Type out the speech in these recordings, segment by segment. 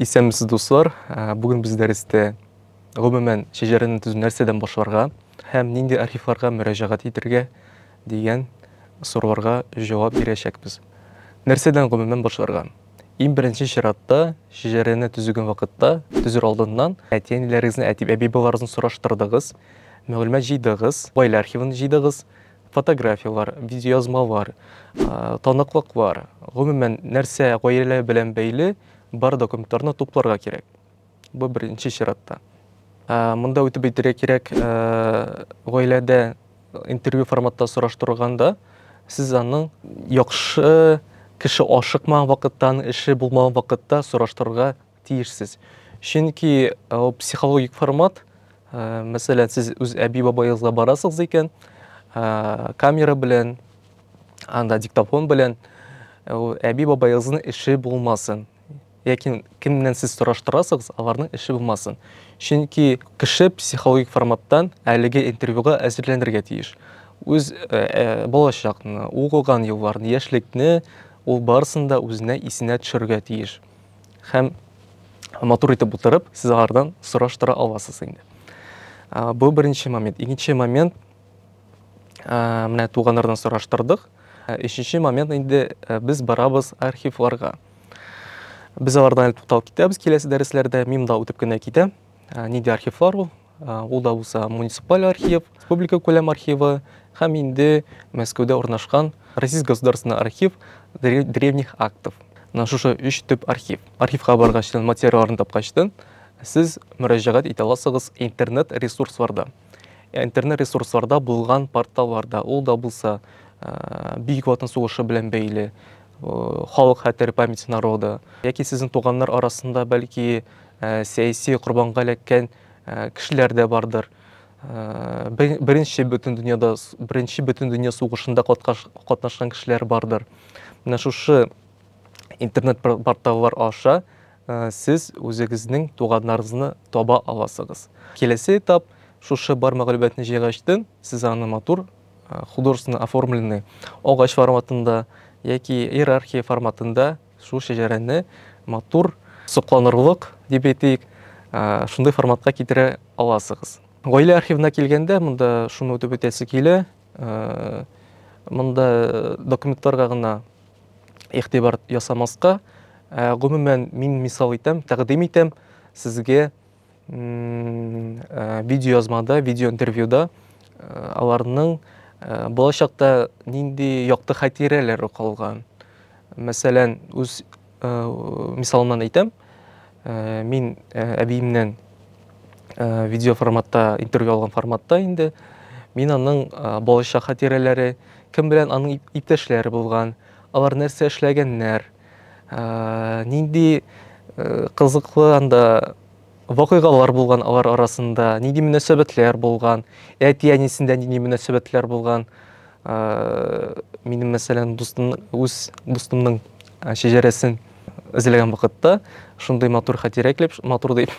Исәнмесез, дуслар! Ә, Бүген без дәрестә гомумән шәҗәрәне төзү нәрсәдән башларга һәм нинди архивларга мөрәҗәгать итәргә дигән сорауларга җавап бирәчәкбез. Нәрсәдән гомумән башларга? Иң беренче чиратта шәҗәрәне төзегән вакытта, төзер алдыннан әти-әниләрегезне, әти-әби-бабаларыгызны сораштырдыгыз, мәгълүмат җыйдыгыз, гаилә архивын җыйдыгыз, фотографияләр, видеоязмалар, таныклыклар, гомумән, нәрсә гаилә белән бәйле бар документларны тупларга кирәк. Бу беренче чиратта. Монда үтеп әйтергә кирәк, гаиләдә интервью форматта сораштырганда сез аның яхшы кеше ашыкмаган вакыттан, эше булмаган вакытта сораштырырга тиешсез. Чөнки ул э, психологик формат, э, мәсәлән, сез үз әби-бабагызга барасыз икән, э, камера белән, анда диктофон белән, ул әби-бабагызның эше булмасын. Яки кемнән сез сораштырасыз, аларның эше булмасын. Чөнки кеше психологик форматтан әлеге интервьюга әзерләнергә тиеш. Үз балачакны, укыган елларны, яшьлекне ул барысын да үзенә исенә төшерергә тиеш. һәм матур итеп утырып, сез алардан сораштыра аласыз инде. Бу беренче момент. Икенче момент, менә туганнардан сораштырдык. Өченче момент инде без барабыз архивларга. Без алардан әле тукталып китәбез киләсе дәресләрдә, мим да үтеп кенә китә. Нинди архивлар ул? Ул да булса муниципаль архив, республика күләм архивы һәм инде Мәскәүдә урнашкан Российский государственный архив древних актов. Менә шушы өч төп архив. Архивка баргачтын, материалларын тапкачтын, сез мөрәҗәгать итә аласыгыз интернет ресурсларда. Ә интернет ресурсларда булган порталларда, ул да булса Бөек Ватан сугышы белән бәйле, халык хәтер памяти народа, яки сезнең туганнар арасында бәлки Сәяси корбанга эләккән кешеләр дә бардыр. Беренче Бөтендөньяда, Беренче Бөтендөнья сугышында катнашкан кешеләр бардыр. Менә шушы интернет-порталлар аша сез үзегезнең туганнарыгызны таба аласыгыз. Киләсе этап, шушы бар мәгълүматны җыйгачтын, сез аны матур, художественно оформленный, агач форматында яки иерархия форматында, Шул шәҗәрәне матур сокланырлык дип әйтик, шундый форматка китерә аласыгыз. Гаилә архивына килгәндә, монда шуны үтеп үтәсе килә. Монда документларга гына игътибар ясамаска, гомумән, мин мисал итәм, тәкъдим итәм сезгә Э, видеоязмада, видеоинтервьюда э, аларның э, болачакта нинди якты хатирәләре калган. Мәсәлән, үз мисалымнан әйтәм, мин әбиемнән видео форматта, интервью алган форматта инде, мин аның болачак хатирәләре, кем белән аның иптәшләре булган, алар нәрсә эшләгәннәр, Нинди кызыклы анда вакыйгалар булган алар арасында, нинди мөнәсәбәтләр булган, әти-әнисендә нинди мөнәсәбәтләр булган. Минем, мәсәлән, дустым, үз дустымның шәҗәрәсен эзләгән вакытта шундый матур хатирә килеп, матур дип,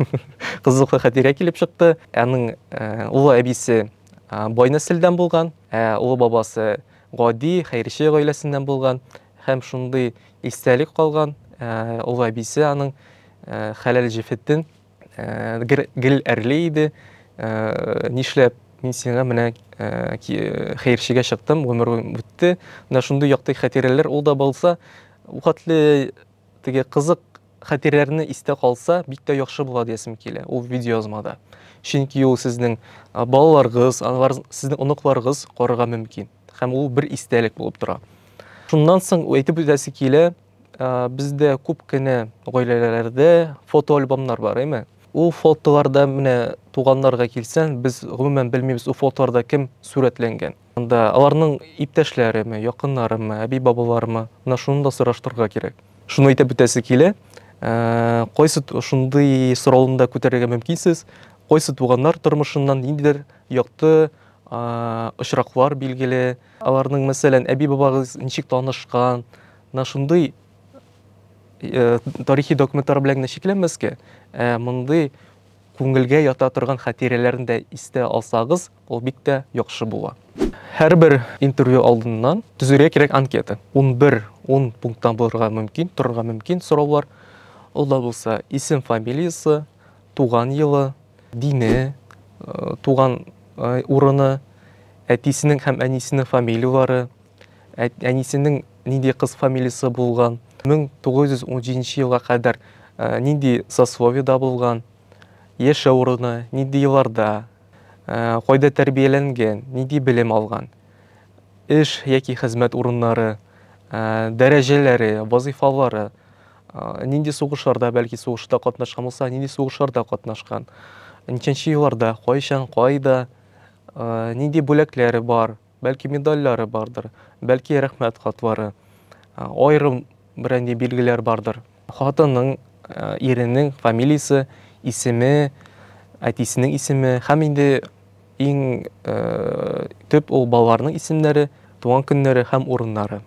кызыклы хатирә килеп чыкты. Аның улы әбисе бай нәселдән булган, ә улы бабасы гади, хәерче гаиләсеннән булган. Һәм шундый истәлек калган, олы әбисе аның хәләл җефетен гел әрли иде. Нишләп мин сиңа менә хәерчегә чыктым, гомер үтте. Менә шундый якты хатирәләр ул да булса, вакытлы теге кызык хатирәләрне истә калса, бик тә яхшы була диясем килә. Ул видеоязмада. Чөнки ул сезнең балаларыгыз, сезнең оныкларыгыз карарга мөмкин. Һәм ул бер истәлек булып тора. Шуннан соң әйтеп үтәсе килә, бездә күп кенә гаиләләрдә фотоальбомнар бар, әйме? Ул фотоларда менә туганнарга килсәң, без гомумән белмибез, ул фотоларда кем сурәтләнгән. Анда аларның иптәшләреме, якыннарымы, әби-бабаларымы, менә шуны да сораштырырга кирәк. Шуны әйтеп үтәсе килә, кайсы шундый сорауны да күтәрергә мөмкинсез, кайсы туганнар тормышыннан ниндидер якты очраклар билгеле. Аларның, мәсәлән, әби-бабагыз ничек танышкан, на шундый э, тарихи документлар белән генә чикләнмәскә, ә мондый күңелгә ята торган хатирәләрен дә истә алсагыз, ул бик тә яхшы була. Һәрбер интервью алдыннан төзергә кирәк анкета. 11 10 пункттан булырга мөмкин, торырга мөмкин сораулар. Ул да булса исем, фамилиясе, туган елы, дине, туган урыны, әтисенең һәм әнисенең фамилияләре, әнисенең нинди кыз фамилиясе булган, 1917 елга кадәр нинди сословиедә булган, яшәү урыны, нинди елларда, кайда тәрбияләнгән, нинди белем алган, эш яки хезмәт урыннары, дәрәҗәләре, вазыйфалары, Нинди сугышларда, бәлки сугышта катнашкан булса, нинди сугышларда катнашкан? Ничәнче елларда, кайчан, кайда, нинди бүләкләре бар, бәлки медальләре бардыр, бәлки рәхмәт хатлары, аерым бренди билгеләр бардыр. Хатының, иренең фамилиясе, исеме, әтисенең исеме һәм инде Иң төп ул балаларның исемнәре, туган көннәре һәм урыннары.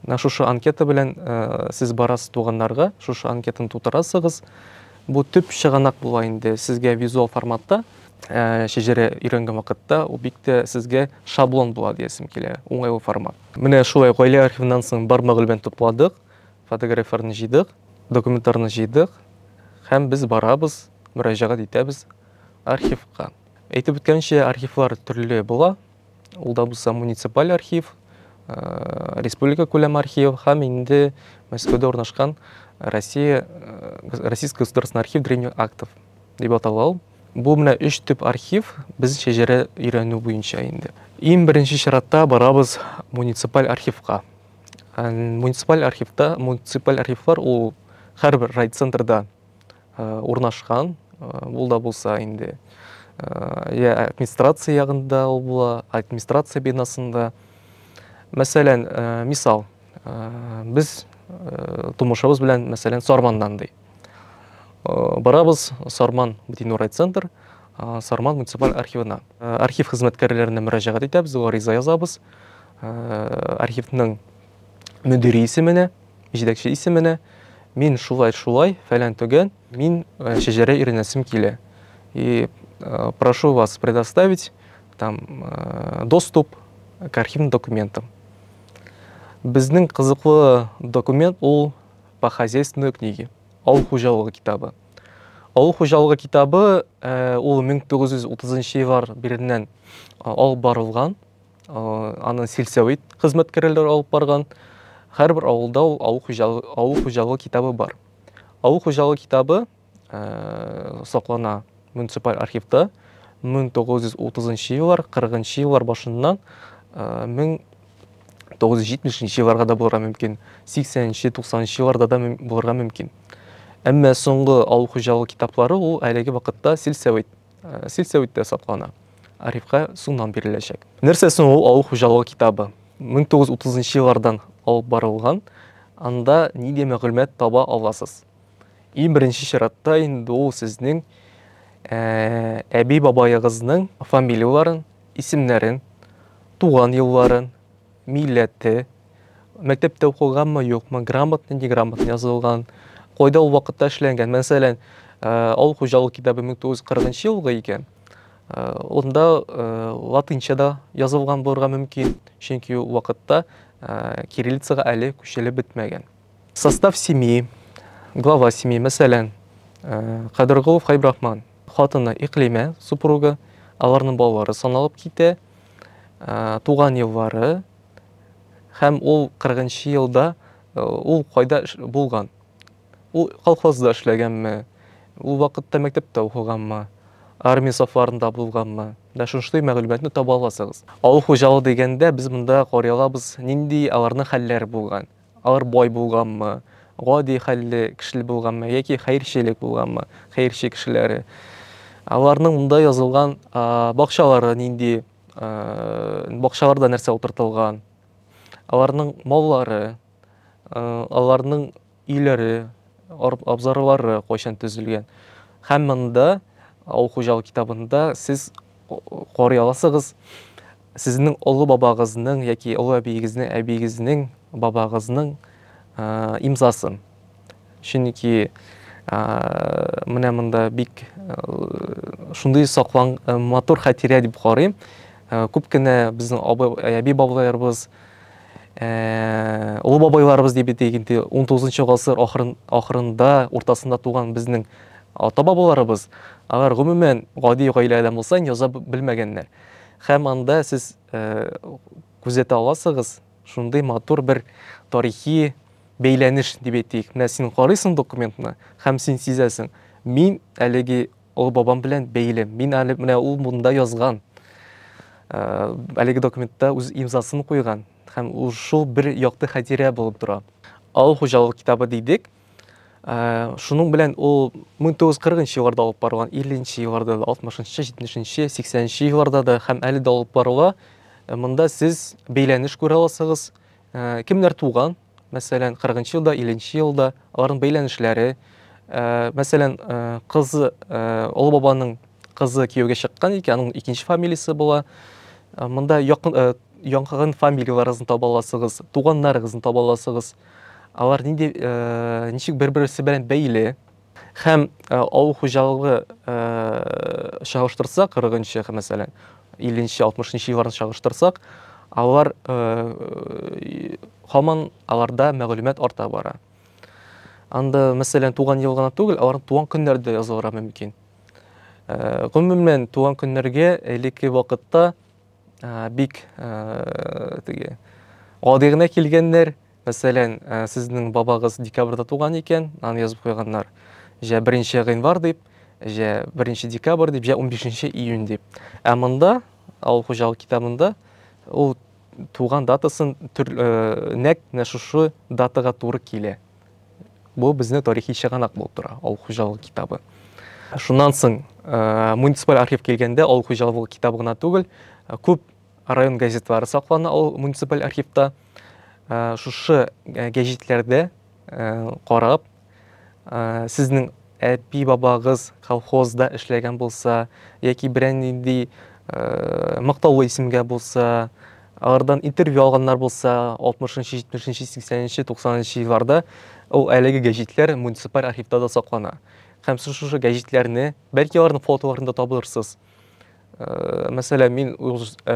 Менә шушы анкета белән сез барасыз туганнарга, шушы анкетаны тутырасыгыз. Бу төп чыганак була инде сезгә визуал форматта шәҗәрә өйрәнгән вакытта ул бик тә сезгә шаблон була диясем килә, уңайлы формат. Менә шулай гаилә архивыннан соң бар мәгълүмәтне тупладык, фотографияләрне җыйдык, документларны җыйдык һәм без барабыз, мөрәҗәгать итәбез. Архивка. Әйтеп үткәнчә, архивлар төрле була. Ул да булса муниципаль архив, э, республика күләм архив һәм инде Мәскәүдә урнашкан Россия э, Российский государственный архив древних актов дип атала ул. Бу менә өч төп архив без шәҗәрә өйрәнү буенча инде. Иң беренче чиратта барабыз муниципаль архивка. Муниципаль архивта, муниципаль архивлар ул һәрбер райцентрда урнашкан, ул да булса инде я администрация ягында ул була, администрация бинасында. Мәсәлән, мисал, без тумышыбыз белән, мәсәлән, Сарманнан ди. Барабыз Сарман бөтенләй райцентр, Сарман муниципаль архивына. Архив хезмәткәрләренә мөрәҗәгать итәбез, гариза язабыз. Архивның мөдире исеменә. Җитәкче исеменә, мин шулай-шулай, фәлән-төгән, мин э, шәҗәрә өйрәнәсем килә. И э, прошу вас предоставить там э, доступ к архивным документам. Безнең кызыклы документ ул по хозяйственной книге, авыл хуҗалыгы китабы. Авыл хуҗалыгы китабы э, ул 1930 еллар биреннән э, алып барылган. Аны сельсовет хезмәткәрләре алып барган. Һәрбер авылда ул авыл хуҗалыгы, авыл хуҗалыгы китабы бар. Авыл хуҗалыгы китабы саклана муниципаль архивта 1930 еллар, 40 еллар башыннан 1970 елларга да булырга мөмкин, 80-90 елларда да булырга мөмкин. Әмма соңгы авыл хуҗалыгы китаплары ул әлеге вакытта сельсовет Сельсәвиттә саклана. Арифка сумнан биреләчәк. Нәрсә соң ул авыл хуҗалыгы китабы? 1930 еллардан алып барылган. Анда нинди мәгълүмат таба аласыз? Иң беренче чиратта инде ул сезнең әби-бабаегызның фамилияләрен, исемнәрен, туган елларын, милләте, мәктәптә укыганмы, юкмы, грамотный, неграмотный язылган, кайда ул вакытта эшләнгән. Мәсәлән, э, авыл хуҗалык китабы 1940 елгы икән. Э, Онда э, латынча да язылган булырга мөмкин, чөнки ул вакытта э, кириллицага әле күчелеп бетмәгән. Состав семьи, глава семьи, мәсәлән, Кадыргулов Хайбрахман, хатыны Иклимә, супруга, аларның балалары саналып китә, туган еллары һәм ул 40 нчы елда ул кайда булган? Ул колхозда эшләгәнме? Ул вакытта мәктәптә укыганмы? Армия сафларында булганмы? Менә шундый мәгълүматны таба аласыгыз. Авыл хуҗалыгы дигәндә, без монда карый алабыз, нинди аларның хәлләре булган. Алар бай булганмы, гади хәлле кешеле булганмы яки хәерчелек булганмы, хәерче кешеләре, аларның монда язылган бакчалары нинди, бакчаларда нәрсә утыртылган, аларның маллары, аларның өйләре, абзарлары кайчан төзелгән һәм монда авыл хуҗалык китабында сез карый аласыгыз. Сезнең олы бабагызның яки олы әбиегезнең әбиегезнең бабагызның имзасы. Чөнки менә монда бик шундый саклан матур хатирә дип карыйм. Күп кенә безнең әби бабайларыбыз олы бабайларыбыз дип әйтик инде 19 гасыр ахырында, уртасында туган безнең Ата-бабаларыбыз, алар гомумән гади гаиләдән булса инде яза белмәгәннәр. Һәм анда сез күзәтә аласыгыз, шундый матур бер тарихи бәйләнеш дип әйтик. Менә син карыйсың документны һәм син сизәсең, мин әлеге олы бабам белән бәйле, мин әле менә ул монда язган, әлеге документта үз имзасын куйган һәм ул шул бер якты хәтирә булып тора. Авыл хуҗалыгы китабы дидек, Ә, шуның белән ул 1940 елларда алып барылган, 50 елларда да, 60 70 80 елларда да һәм әле дә алып барыла. Ә, монда сез бәйләнеш күрә аласыгыз. Ә, кемнәр туган? Мәсәлән, 40 елда, 50 елда аларның бәйләнешләре. Ә, мәсәлән, ә, кызы, ә, олы бабаның кызы кияүгә чыккан икән, аның икенче фамилиясе була. Ә, монда якын, ә, яңгын фамилияләрегезне таба аласыгыз, туганнарыгызны таба аласыгыз. Алар нинди, ничек бер-берсе белән бәйле? Һәм авыл хуҗалыгы чагыштырсак, 40 нчы, мәсәлән, 50 нчы, 60 нчы елларны чагыштырсак, алар һаман аларда мәгълүмат арта бара. Анда, мәсәлән, туган ел гына түгел, алар туган көннәр дә язылырга мөмкин. Гомумән, туган көннәргә элекке вакытта Ә, бик ә, теге гади генә килгәннәр. Мәсәлән, ә, сезнең бабагыз декабрьдә туган икән, аны язып куйганнар. Җә 1 гыйнвар дип, җә 1 декабрь дип, җә 15 июнь дип. Ә монда авыл хуҗалык китабында ул туган датасын түр, ә, нәкъ менә шушы датага туры килә. Бу безне тарихи чыганак булып тора, авыл хуҗалыгы китабы. Шуннан соң э, муниципаль архив килгәндә авыл хуҗалыгы китабы гына түгел, э, күп район газетлары саклана ул муниципаль архивта. Э, шушы гәҗитләрдә карап, сезнең Әби-бабагыз колхозда эшләгән булса, яки берәр нинди мактаулы исемгә булса, алардан интервью алганнар булса, 60-нчы, 70-нче, 80-нче, 90-нчы елларда, ул әлеге гәҗитләр муниципаль архивта да саклана. Һәм сез шушы гәҗитләрне, бәлки аларның фотоларын да табырсыз. Э, мәсәлән, мин үз э,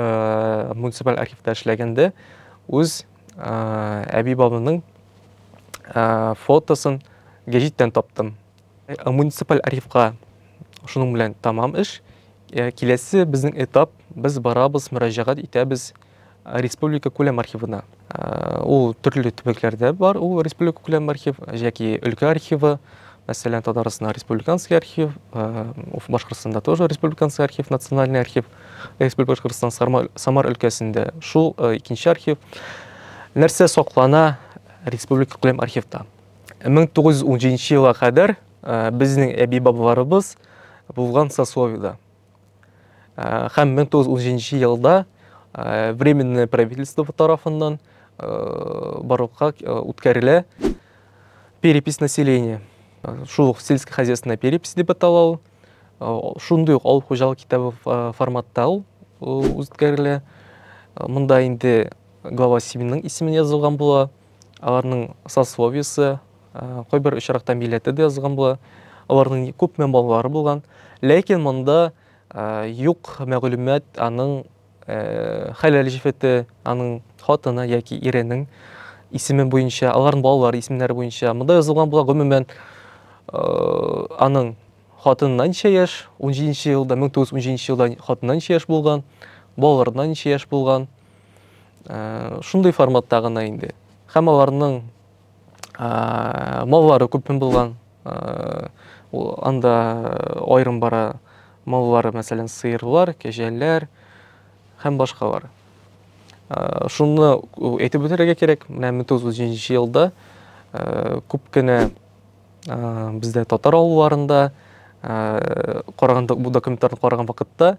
муниципаль архивта эшләгәндә үз э, әби бабымның фотосын гәҗиттән таптым. Муниципаль архивка шуның белән тамам эш. Киләсе безнең этап, без барабыз, мөрәҗәгать итәбез республика күләм архивына. Ул төрле төбәкләрдә бар, ул республика күләм архив, яки өлкә архивы, мәсәлән, Татарстанда республиканский архив, Башкортстанда тоже республиканский архив, национальный архив, Республика Башкортстан Самар өлкәсендә шул икенче архив. Нәрсә саклана республика күләм архивта? 1917 елга кадәр безнең әби-бабаларыбыз булган сословиедә. Хәм 1917 елда временное правительство тарафыннан барлыкка үткәрелә перепись населения. Шул ук сельское хозяйственное перепись дип атала ул. Шундый ук авыл хуҗалык китабы форматта ул үткәрелә. Монда инде глава 7 исемен язылган була. Аларның сословиесе, кайбер очракта милләте дә язган була. Аларның күпме балалары булган. Ләкин монда юк мәгълүмат аның хәләл җефете, аның хатыны яки иренең исеме буенча, аларның балалары исемнәре буенча. Монда язылган була гомумән аның хатынына ничә яшь, 17 елда, 1917 елда хатынына ничә яшь булган, балаларына ничә яшь булган, шундый форматта гына инде һәм аларның маллары күпме булган анда айрым бара маллары мәсәлән сыерлар кәҗәләр һәм башкалар шуны әйтеп үтәргә кирәк менә мең тугыз йөз җиденче елда күп кенә бездә татар авылларында караганда бу документларны караган вакытта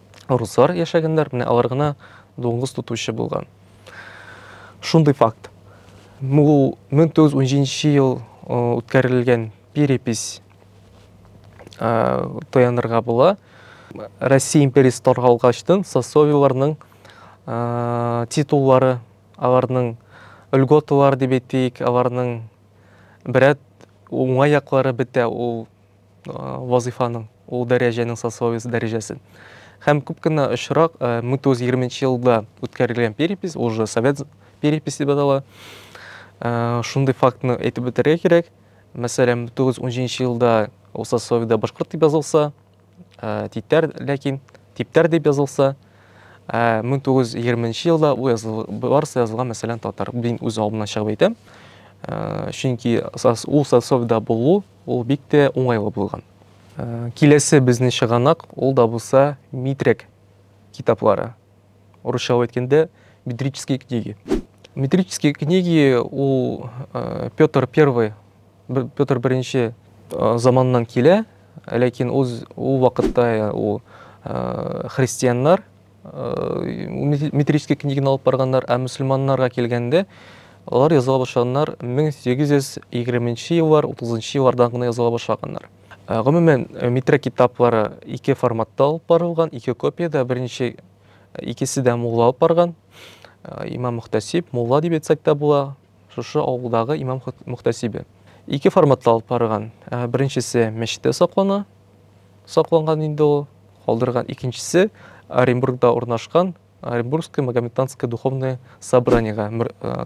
руслар яшәгәннәр, менә алар гына дуңгыз тотучы булган. Шундый факт. Ул 1917 ел үткәрелгән перепись таянырга була. Россия империясы таргалгачтын сосовиларның титуллары, аларның льготалары дип әйтик, аларның берәт уңай яклары бетә ул вазыйфаның, ул дәрәҗәнең сословиесе дәрәҗәсен. Һәм күп кенә очрак 1920 елда үткәрелгән перепись, ул же совет переписи дип атала. Шундый фактны әйтеп бетерергә кирәк. Мәсәлән, 1917 елда ул сословиедә башкорт дип язылса, типтәр, ләкин типтәр дип язылса, 1920 елда ул языл, барысы язылган, мәсәлән, татар. Мин үз алдымнан чыгып әйтәм. Чөнки ул сословиедә булу Ул бик тә уңайлы булган. Киләсе безнең чыганак, ул да булса Митрәк китаплары. Урысчалап әйткәндә, метрические книги. Метрические книги ул Петр I, Петр I заманыннан килә, ләкин ул вакытта ул христианнар метрический книганы алып барганнар, ә мөселманнарга килгәндә, алар языла башлаганнар 1820 еллар, 30 еллардан гына языла башлаганнар. Э, гомумән, э, метро китаплары ике форматта алып барылган, ике копиядә, беренче э, икесе дә мулла алып барган. Имам Мөхтәсиб, мулла дип әйтсәк тә була, шушы авылдагы имам Мөхтәсибе. Ике форматта алып барган. Беренчесе мәчеттә саклана, сакланган инде ул. Калдырган икенчесе Оренбургда урнашкан Оренбургское Магометанское духовное собраниега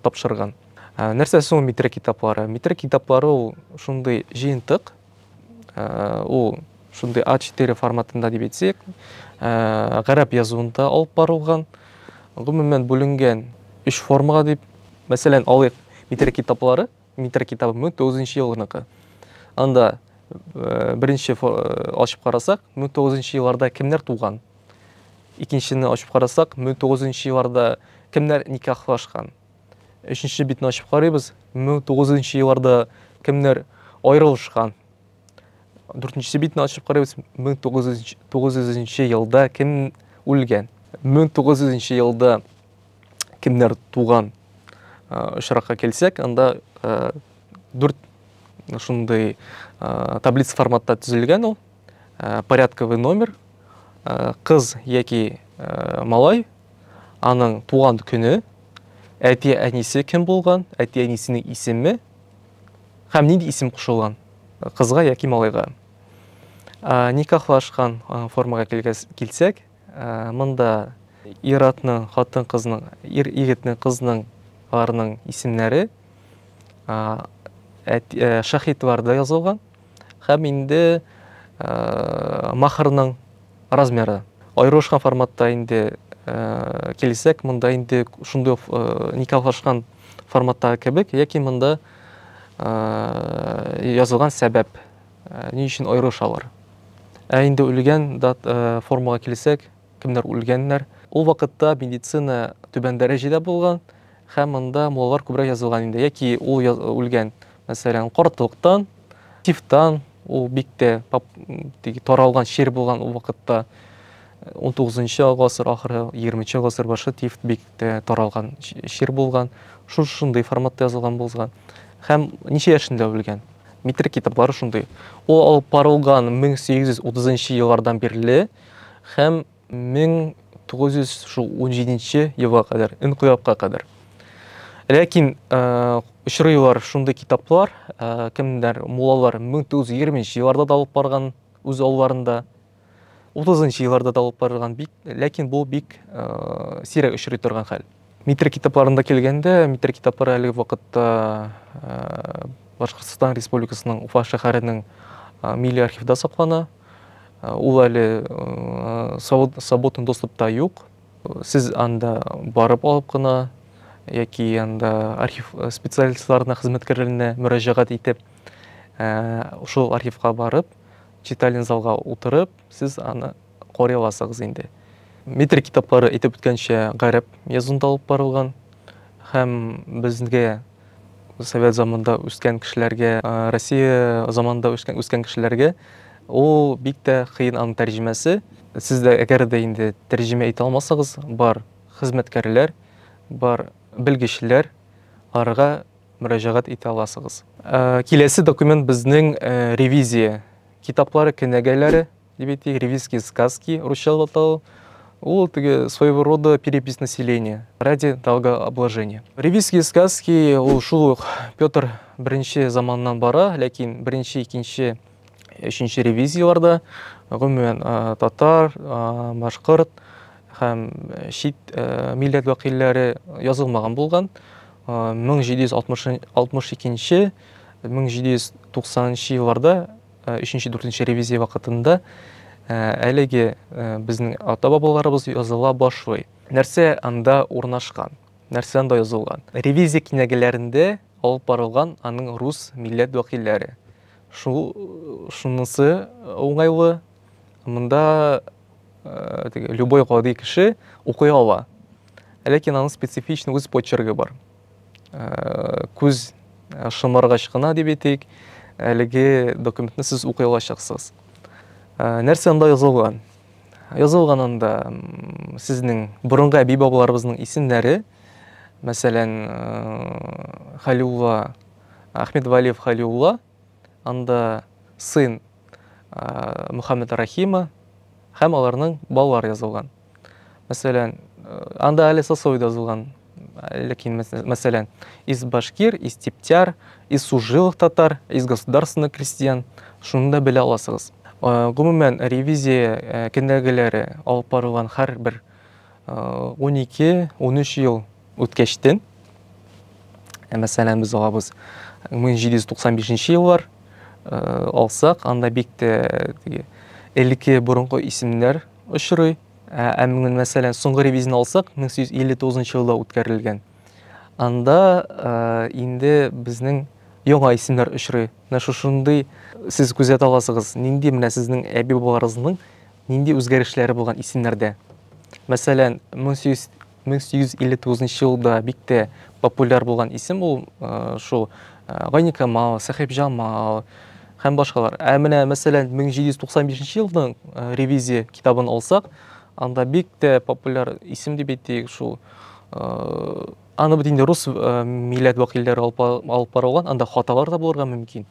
тапшырган. Нәрсә соң Митрә китаплары? Митрә китаплары ул шундый җыентык, ул шундый А4 форматында дип әйтсәк, гарәп язуында алып барылган, гомумән бүленгән өч формага дип, мәсәлән, алыйк Митрә китаплары, Митра китабы 1900 нчы елгыныкы. Анда беренче ачып карасак, 1900 нчы елларда кемнәр туган? Икенчене ачып карасак, 1900 нчы елларда кемнәр никахлашкан? Өченче битне ачып карыйбыз, 1900 нчы елларда кемнәр аерылышкан? Дүртенче битне ачып карыйбыз, 1900 елда кем үлгән? 1900 елда кемнәр туган очракка килсәк, анда дүрт шундый таблица форматта төзелгән ул. Порядковый номер, кыз яки малай, аның туган көне, әти әнисе кем булган, әти әнисенең исеме һәм нинди исем кушылган кызга яки малайга. Никахлашкан формага килсәк, Монда ир-атның, хатын-кызның, ир-егетнең, кызның, аларның исемнәре шаһитларда язылган һәм инде махырның размеры аерылышкан форматта инде килсәк, монда инде шундый никахлашкан форматтагы кебек, яки монда язылган сәбәп Ни өчен аерылышалар? Ә инде үлгән дат формага килсәк, кемнәр үлгәннәр? Ул вакытта медицина түбән дәрәҗәдә булган һәм монда муллар күбрәк язылган инде, яки ул үлгән, мәсәлән, кортлыктан, тифтан, ул бик тә таралган чир булган ул вакытта. 19-нчы гасыр ахыры, 20-нчы гасыр башы тифт бик тә таралган чир булган. Шундый форматта язылган булган. Һәм ничә яшендә үлгән? Митр китаплары шундый. Ул алып барылган 1830 еллардан бирле һәм 1917 елга кадәр, инкыйлабка кадәр. Ләкин э, очрыйлар шундый китаплар, э, кемдер муллалар 1920 елларда да алып барган үз алларында. 30 елларда да алып барылган бик, ләкин бу бик э, сирәк очрый торган хәл. Митр китапларында килгәндә, митр китаплары әлеге вакытта э, Башкортстан Республикасының Уфа шәһәренең э, милли архивда саклана. Э, ул әле э, савыт- саботын доступта юк. Сез анда барып алып кына яки анда архив э, специалистларына, хезмәткәрләренә мөрәҗәгать итеп, э, шул архивка барып, Читалин залга утырып, сез аны карый аласыгыз инде. Метр китаплары, әйтеп үткәнчә, гарәп язуында алып барылган һәм безгә совет заманында үскән кешеләргә, Россия заманында үскән, үскән кешеләргә ул бик тә кыен аның тәрҗемәсе. Сез дә әгәр дә инде тәрҗемә итә алмасагыз, бар хезмәткәрләр, бар белгечләр арга мөрәҗәгать итә аласыгыз. Киләсе документ безнең ревизия китаплары, кенәгәләре дип әйтик, ревизские сказки, русча атау. Ул теге своего рода перепись населения ради долгообложения. Ревизские сказки ул шул ук Петр I заманыннан бара, ләкин беренче, икенче өченче ревизияләрдә гомумән татар, башкорт һәм чит милләт вәкилләре язылмаган булган. 1762-1790 елларда 3-4 ревизия вакытында әлеге безнең ата бабаларыбыз языла башлый. Нәрсә анда урнашкан? Нәрсә анда язылган? Ревизия кинәгәләрендә алып барылган аның рус милләт вәкилләре. Шул шунысы уңайлы, монда теге любой гади кеше укый ала. Ләкин аның специфичный үз почерге бар. Күз шымаргач кына дип әйтик, әлеге документны сез укый алачаксыз. Нәрсә анда язылган? Язылган анда сезнең борынгы әби-бабаларыбызның исемнәре, мәсәлән, Халиулла Ахмед Валиев Халиулла, анда сын Мухаммед Рахима һәм аларның балалар язылган. Мәсәлән, анда әле сосой да язылган. Ләкин, мәсәлән, из башкир, из типтяр, из сужилых татар, из государственный крестьян, шуны да белә аласыгыз. Гомумән, ревизия кенәгәләре алып барылган һәр бер 12-13 ел үткәчтен. Ә мәсәлән, без алабыз 1795 еллар э, алсак, анда бик тә теге элекке борынгы исемнәр очрый. Ә, ә менә мәсәлән, соңгы ревизияне алсак, 1859 елда үткәрелгән. Анда э, инде безнең яңа исемнәр очрый. Менә шушындый сез күзәтә аласыгыз, нинди менә сезнең әби-бабаларыгызның нинди үзгәрешләре булган исемнәрдә. Мәсәлән, 1800 1859 елда бик тә популяр булган исем ул шул Гайникамал, Сәхибҗамал һәм башкалар. Ә менә мәсәлән 1795 елның ревизия китабын алсак, анда бик тә популяр исем дип әйтик шул аны бит инде рус милләт вәкилләре алып барылган, анда хаталар да булырга мөмкин.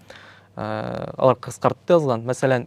Алар кыскартты язган. Мәсәлән,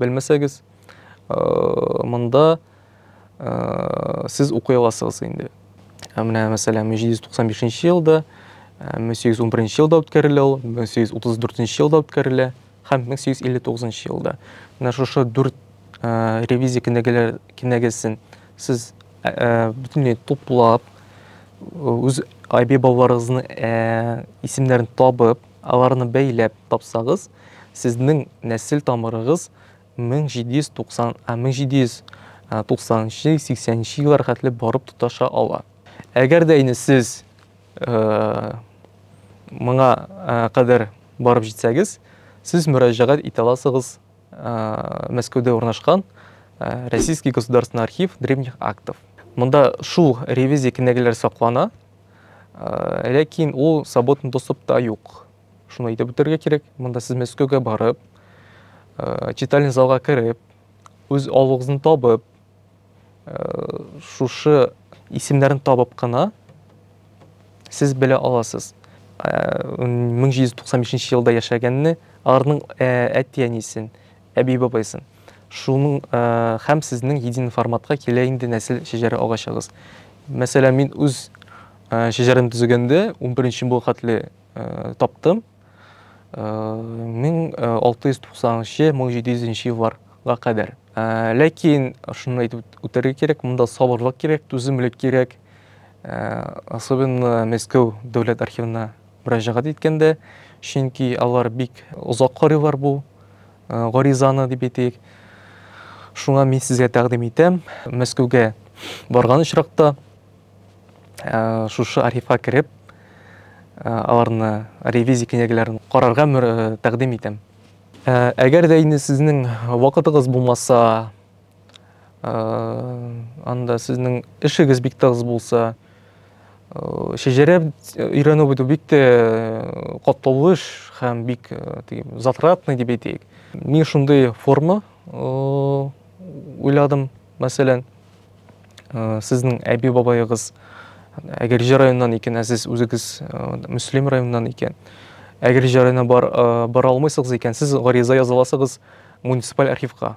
белмәсәгез, монда сез укый аласыгыз инде. Ә менә, мәсәлән, 1795 елда, 1811 елда үткәрелә ул, 1834 елда үткәрелә һәм 1859 елда. Менә шушы дүрт ревизия кенәгәләр кенәгәсен сез бөтенләй туплап, үз әби-бабаларыгызның исемнәрен табып, Аларны бәйләп тапсагыз, сезнең нәсел тамырыгыз 1790, 1790 нчы, 80 нче еллар хәтле барып тоташа ала. Әгәр дә инде сез моңа кадәр барып җитсәгез, сез мөрәҗәгать итә аласыгыз Мәскәүдә урнашкан Российский государственный архив древних актов. Монда шул ревизия кенәгәләре саклана. Ә, ләкин ул свободный доступта юк. Шуны әйтеп үтәргә кирәк. Монда сез Мәскәүгә барып, ә, читальный залга кереп, үз алуыгызны табып, ә, шушы исемнәрен табып кына сез белә аласыз. Ә, 1795 елда яшәгәнне, арның ә, әти-әнисен, Әби бабайсын. Шуның һәм сезнең един форматка килә инде нәсел шәҗәрә агачыгыз. Мәсәлән, мин үз шәҗәрәмне төзегәндә унберенче буа хәтле таптым. 1690-1700 нче еллар га кадәр. Ләкин шуны әйтеп үтәргә кирәк, монда сабырлык кирәк, түземлек кирәк. Особенно Мәскәү дәүләт архивына мөрәҗәгать иткәндә, чөнки алар бик озак карыйлар бу гаризаны дип әйтик. Шуңа мин сезгә тәкъдим итәм, Мәскәүгә барган очракта шушы архивка кереп, аларны ревизия кенәгәләрен карарга тәкъдим итәм. Әгәр дә инде сезнең вакытыгыз булмаса, анда сезнең эшегез бик тыгыз булса шәҗәрә өйрәнү бит бик тә катлаулы эш һәм бик затратный дип әйтик мин шундый форма уйладым мәсәлән сезнең әби бабаегыз әгерҗе районыннан икән ә сез үзегез мөслим районыннан икән әгерҗе районына бара алмыйсыз икән сез гариза яза аласыгыз муниципаль архивка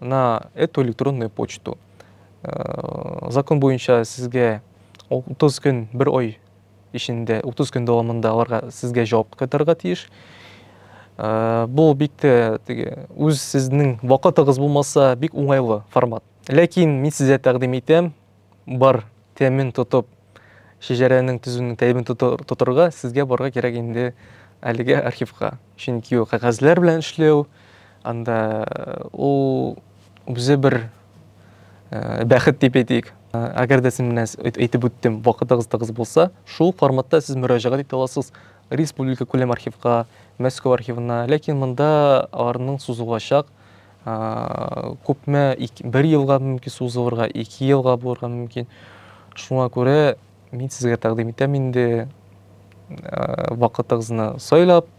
на эту электронную почту. Э, закон буенча сезгә 30 көн, бер ой ишенде, 30 көн дәвамында аларга сезгә җавап кайтарырга тиеш. Э, бу бик тә теге үз сезнең вакытыгыз булмаса, бик уңайлы формат. Ләкин мин сезгә тәкъдим итәм, бар тәмен тотып, шәҗәрәнең төзүнең тәмен тотырга, сезгә барга кирәк инде әлеге архивка. Чөнки ул кәгазьләр белән эшләү, анда ул үзе бер бәхет дип әйтик. Әгәр дә син менә әйтеп үттем, вакытыгыз тыгыз булса, шул форматта сез мөрәҗәгать итә аласыз республика күләм архивка, Мәскәү архивына, ләкин монда аларның сузылачак күпме бер елга мөмкин сузылырга ике елга булырга мөмкин шуңа күрә мин сезгә тәкъдим итәм инде вакытыгызны сайлап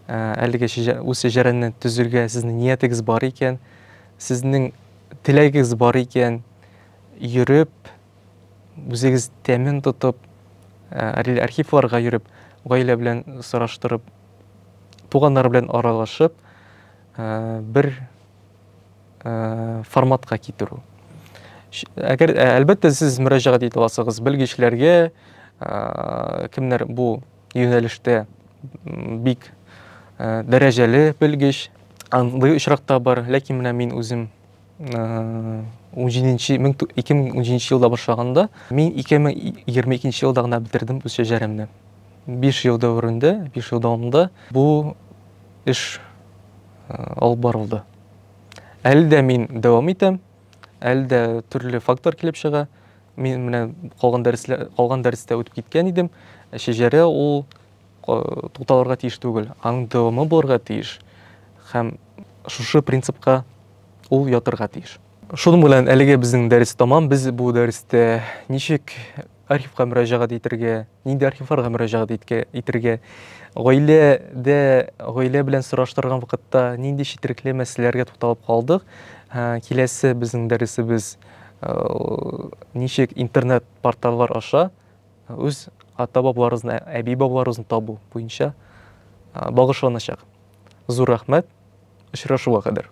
әлеге үз шәҗәрәне төзергә сезнең ниятегез бар икән сезнең теләгегез бар икән йөреп үзегез тәмен тотып архивларга йөреп гаилә белән сораштырып туганнар белән аралашып, бер форматка китерү. Әгәр әлбәттә сез мөрәҗәгать итә аласыгыз белгечләргә, кемнәр бу юнәлештә бик дәрәҗәле белгеч, андый очракта бар, ләкин менә мин үзем 17 2017 елда башлаганда мин 2022 елда гына бетердем үз шәҗәремне 5 ел дәверендә 5 ел дәвамында бу эш алып барылды әле дә мин дәвам итәм әле дә төрле фактор килеп чыга мин менә калган дәресләр калган дәрестә үтеп киткән идем шәҗәрә ул тукталырга тиеш түгел, аның дәвамы булырга тиеш һәм шушы принципка ул ятырга тиеш. Шуның белән әлеге безнең дәрес тәмам. Без бу дәрестә ничек архивка мөрәҗәгать итергә, нинди архивларга мөрәҗәгать итергә, гаиләдә гаилә белән сораштырган вакытта нинди четерекле мәсьәләләргә тукталып калдык. Киләсе безнең дәресебез ничек интернет порталлар аша үз ата-бабаларыбызны, әби-бабаларыбызны табу буенча багышланачак. Зур рәхмәт, очрашуга кадәр!